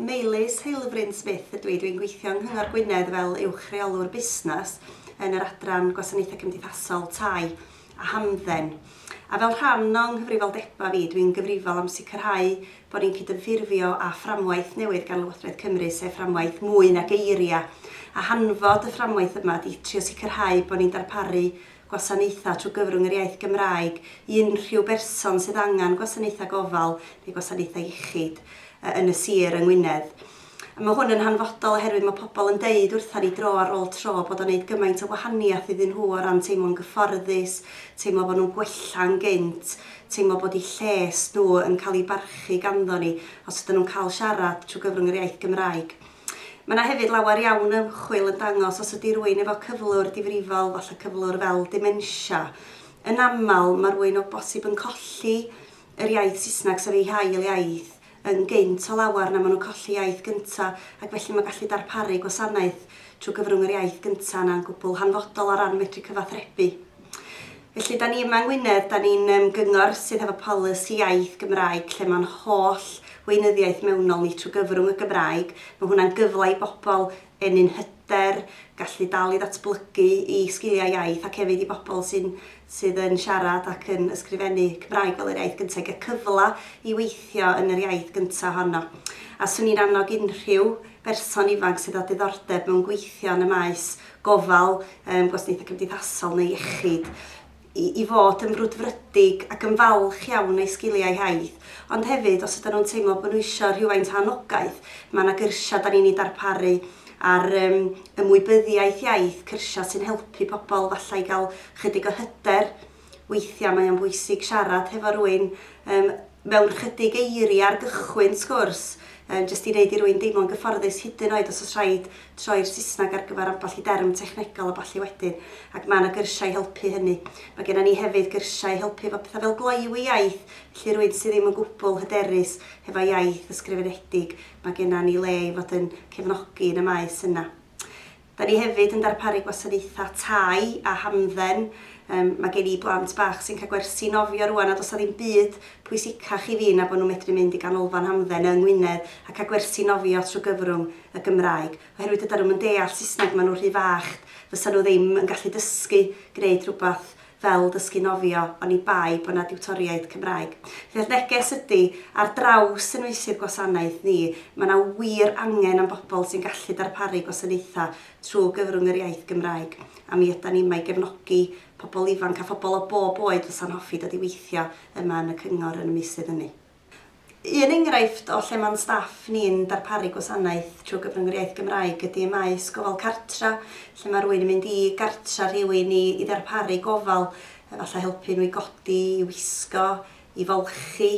Meilis Heilfryn Smith ydw i. Dwi'n gweithio yng Nghyngor Gwynedd fel uwch reolwr busnes yn yr adran Gwasanaethau Cymdeithasol, Tai a Hamdden. A fel rhan o'n nghyfrifoldebau fi, dwi'n gyfrifol am sicrhau bod ni'n cydymffurfio â fframwaith newydd gan Lywodraeth Cymru, sef fframwaith 'Mwy na Geiriau', a hanfod y fframwaith yma ydy trio sicrhau bod ni'n darparu gwasanaethau trwy gyfrwng yr iaith Gymraeg i unrhyw berson sydd angen gwasanaethau gofal neu gwasanaethau iechyd yn y sir yng Ngwynedd. A mae hwn yn hanfodol oherwydd mae pobl yn deud wrtha ni dro ar ôl tro bod o'n neud gymaint o wahaniaeth iddyn nhw o ran teimlo'n gyfforddus, teimlo fod nhw'n gwella'n gynt, teimlo bod eu lles nhw yn cael ei barchu ganddo ni os ydyn nhw'n cael siarad trwy gyfrwng yr iaith Gymraeg. Mae 'na hefyd lawer iawn o ymchwil yn dangos os ydy rwy'n efo cyflwr difrifol, falle cyflwr fel dementia, yn aml mae rwy'n o bosib yn colli yr iaith Saesneg sef eu hail iaith. yn gynt o lawer na maen nhw'n colli iaith gyntaf ac felly mae gallu darparu gwasanaeth trwy gyfrwng yr iaith gyntaf yna yn gwbl hanfodol o ran medru cyfathrebu. Felly, da ni yma yng Ngwynedd, da ni'n um, gyngor sydd hefo polisi iaith Gymraeg lle mae'n holl weinyddiaeth mewnol ni trwy gyfrwng y Gymraeg. Mae hwnna'n gyfle i bobl ennyn hyder, gallu dal i ddatblygu i sgiliau iaith ac hefyd i bobl sy'n sydd yn siarad ac yn ysgrifennu Cymraeg fel yr iaith gyntaf i gael cyfle i weithio yn yr iaith gyntaf honno. A 'swn i'n annog unrhyw berson ifanc sydd â diddordeb mewn gweithio yn y maes, gofal, gwasanaethau cymdeithasol neu iechyd, i fod yn frwdfrydig ac yn falch iawn o'u sgiliau haidd, ond hefyd os ydan nhw'n teimlo bod nhw isio rhywfaint o anogaeth, mae 'na gyrsiau 'dan ni'n eu darparu ar yym ymwybyddiaeth iaith, cyrsiau sy'n helpu pobl falle i gael chydig o hyder. Weithiau mae o'n bwysig siarad hefo rywun yym mewn chydig eiriau ar gychwyn sgwrs, yym jyst i wneud i rywun deimlo'n gyfforddus hyd yn oed os oes rhaid troi i'r Saesneg ar gyfer ambell i derm technegol a ballu wedyn, ac mae 'na gyrsiau i helpu hynny. Mae genna ni hefyd gyrsiau i helpu efo pethau fel gloywi iaith, felly rywun sydd ddim yn gwbl hyderus hefo iaith ysgrifenedig, mae genna ni le i fod yn cefnogi yn y maes yna. Da ni hefyd yn darparu gwasanaethau tai a hamdden, yym, mae gen i blant bach sy'n cael gwersi nofio rwan a does 'na ddim byd pwysicach i fi na bod nhw'n medru mynd i ganolfan hamdden yng Ngwynedd a cael gwersi nofio trwy gyfrwng y Gymraeg, oherwydd dydan nhw'm yn deall Saesneg, maen nhw rhy fach, fysan nhw ddim yn gallu dysgu gwneud rhywbeth fel dysgu nofio, oni bai bod 'na diwtoriaid Cymraeg. Felly y neges ydi, ar draws y meysydd gwasanaeth ni, mae 'na wir angen am bobl sy'n gallu darparu gwasanaethau trwy gyfrwng yr iaith Gymraeg, a mi ydan ni yma i gefnogi pobl ifanc a phobl o bob oed fysa'n hoffi dod i weithio yma yn y Cyngor yn y meysydd ynni. Un enghraifft o lle mae'n staff ni'n darparu gwasanaeth trwy gyfrwng yr iaith Gymraeg ydy ym maes gofal cartra, lle mae rhywun yn mynd i gartra rhywun i i ddarparu gofal, efallai helpu nhw i godi, i wisgo, i folchi,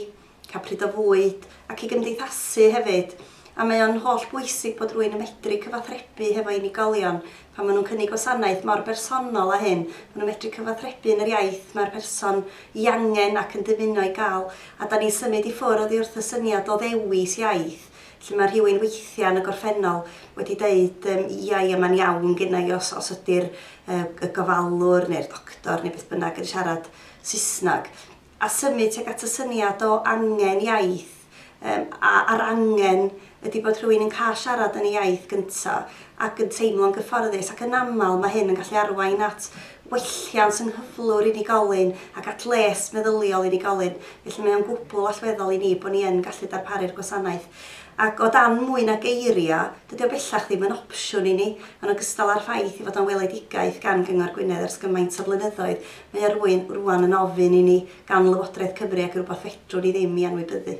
cael pryd o fwyd, ac i gymdeithasu hefyd. A mae o'n holl bwysig bod rhywun yn medru cyfathrebu hefo unigolion, pan maen nhw'n cynnig gwasanaeth mor bersonol â hyn, maen nhw'n medru cyfathrebu yn yr iaith mae'r person i angen ac yn dymuno ei gael, a 'dan ni'n symud i ffwrdd oddi wrth y syniad o ddewis iaith, lle mae rhywun weithiau yn y gorffennol wedi deud yym ia, ia mae'n iawn gynna i os os ydy'r yy y gofalwr neu'r doctor neu beth bynnag yn siarad Saesneg. a symud tuag at y syniad o angen iaith, yym, a, a'r angen ydi bod rhywun yn cael siarad yn ei iaith gynta, ac yn teimlo'n gyfforddus, ac yn aml mae hyn yn gallu arwain at welliant yng nghyflwr unigolyn ac at les meddyliol unigolyn, felly mae o'n gwbl allweddol i ni bod ni yn gallu darparu'r gwasanaeth. Ac o dan mwy na geiriau, dydi o bellach ddim yn opsiwn i ni, yn ogystal â'r ffaith ei fod o'n weledigaeth gan Gyngor Gwynedd ers gymaint o flynyddoedd, Mae rhywun rŵan yn ofyn i ni gan Lywodraeth Cymru ac yn rhywbeth fedrwn ni ddim i anwybyddu.